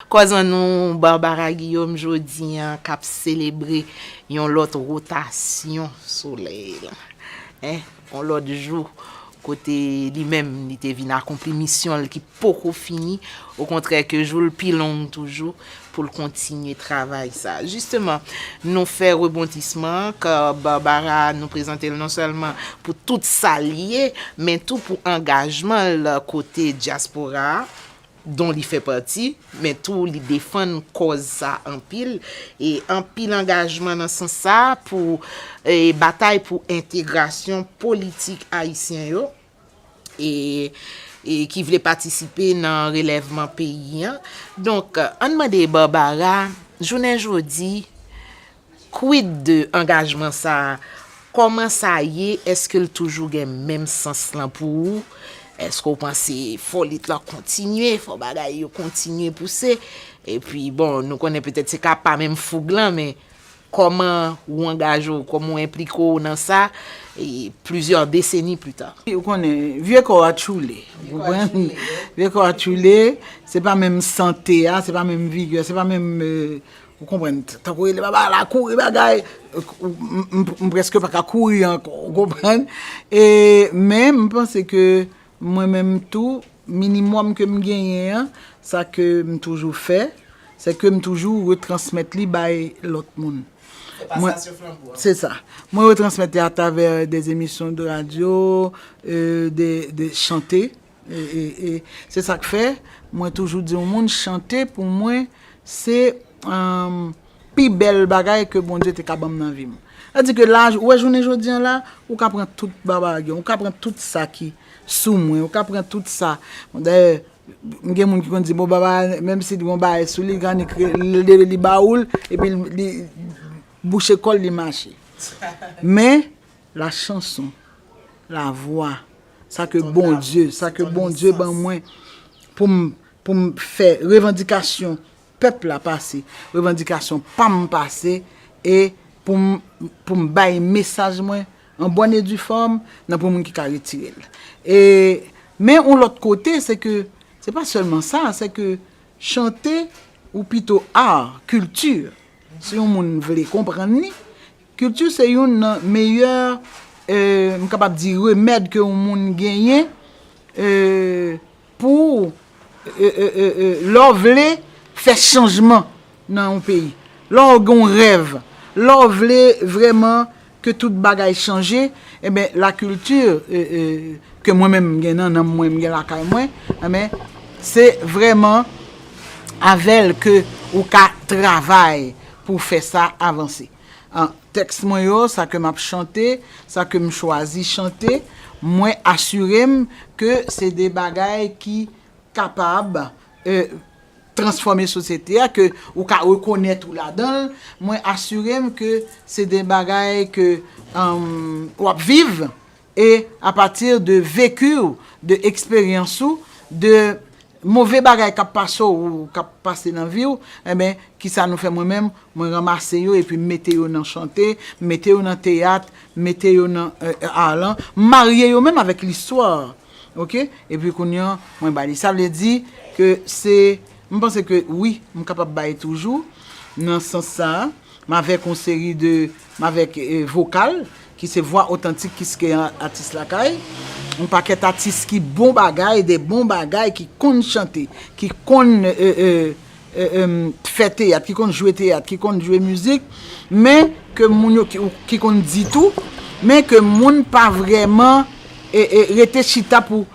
Kòzan nou Barbara Guillaume jodi an k ap selebre yon lòt wotasyon solèy lan, en, yon lòt jou kote li menm li te vin akonpli misyon l ki poko fini, okontrè ke jou l pi long toujou pou l kontinye travay sa. Jisteman, nou fè rebondisman an, kò Barbara a nou prezante l non sèlman pou tout sa l ye, men tou pou angajman l kote dyaspora a, don li fè pati, men tou li defann kòz sa anpil, e anpil angajman nan sans sa a pou batay pou entegrasyon politik ayisyen yo e ki vle patisipe nan relèvman peyi an. Donk, ann mande Barbara, jounen jodi, Quid de angajman sa a? Kòman sa ye? Èske l toujou gen menm sans lan pou ou? Èske ou panse fò lit lan kontinye, fò bagay yo kontinye pouse? Epi, bon, nou konnen petèt se ka pa menm foug lan, men kòman ou angaje w, kòman ou enplike w nan sa plizyè deseni pita? Ou konnen, vye kò a tchoule, ou konprann? Vye kò a tchoule, se pa menm sante a, se pa menm vigè, se pa menm Ou konprann, tankou rele baba la kouri bagay, m preske pa ka kouri ankò, ou konprann. E men m panse ke mwen menm tou, minimòm ke m genyen an, sa ke m toujou fè, se ke m toujou retransmèt li bay lòt moun. Se pasasyon flanbo a. Se sa. Mwen retransmèt li atravè de emisyon de radyo, de chante. E se sa k fè mwen toujou di yon moun chante pou mwen se pi bèl bagay ke Bondye te ka ban m nan vi m. Sa di ke la, ou wè jounen jodi an la, ou ka pran tout babage, ou ka pran tout sa ki sou mwen, ou ka pran tout sa. Dayè, m gen moun ki konn di bon baba a, menm si li gen yon bagay sou li, li ka annik leve li ba ou l, epi li bouche kò l, li mache. Men. La chanson, la voix, sa ke Bondye, sa ke Bondye ban mwen pou m, pou m fè revandikasyon pèp la pase, revandikasyon pa m pase e pou m, pou m bay mesaj mwen an bòn e di fòm nan pou moun ki ka retire l. E, men yon lòt kote se ke, se pa sèlman sa, se ke chante ou pito art, culture, si yon moun vle konprann li, Kilti se youn nan meyè m kapab di remèd ke yon moun genyen pou lè w vle fè chanjman nan yon peyi. Lè w gen yon rèv, lè w vle vrèman ke tout bagay chanje, enben la kilti ke mwen menm m gen nan nanm mwen, m gen lakay mwen, enben se vrèman avè l ke ou ka travay pou fè sa avanse. An, tèks mwen yo, sa ke m ap chante, sa ke m chwazi chante, mwen asire m ke se de bagay ki kapab transfòme sosyete a, ke ou ka rekonèt ou ladan l, mwen asire m ke se de bagay ke w ap viv, E a pati de vecu w, de eksperyans ou, de move bagay k ap pase w ou k ap pase nan vi w, enben, ki sa nou fè mwen menm, mwen ranmase yo epi m mete yo nan chante, m mete yo nan teyat, m mete yo nan ar lan, m marye yo menm avèk listwa. Ok? Epi kounye an, mwen ba li. Sa vle di ke se, m panse ke wi, m kapab bay toujou nan sans sa a. M avèk yon seri de, m avèk vokal ki se vwa otantik kiskeya atis lakay, yon pakèt atis ki bon bagay, de bon bagay, ki konn chante, ki konn fè teyat, ki konn jwe teyat, ki konn jwe mizik, men ke moun yo, ki konn di tou, men ke moun pa vrèman rete chita pou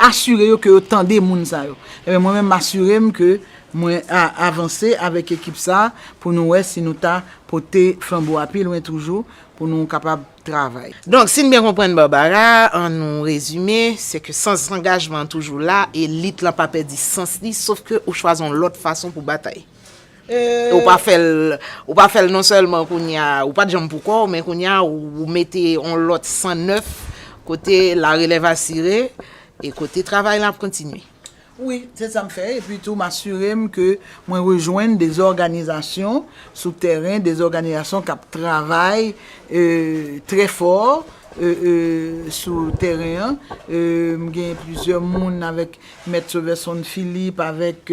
asire yo ke yo tande moun sa yo. Mwen menm m asire m ke Mwen a avanse avèk ekip sa pou nou wè si nou ta pote flanbo a pi lwen toujou pou nou kapab travay. Donk, si n byen konprann Barbara, an nou rezime, se ke sans angajman an toujou la e lit lan pa pèdi sans li sof ke ou chwazi yon lòt fason pou batay. E ou pa fè l, ou pa fè l non sèlman kounye a, ou pa t janm pou kò w, men kounye a ou mete yon lòt san nèf kote la relèv asire e kote travay lan ap kontinye. Wi, se sa m fè, epi tou m asire m ke mwen rejwenn de òganizasyon sou tèren, de òganizasyon k ap travay trè fò sou tèren an. M gen plizyè moun avèk Mèt Soverson Philippe, avèk.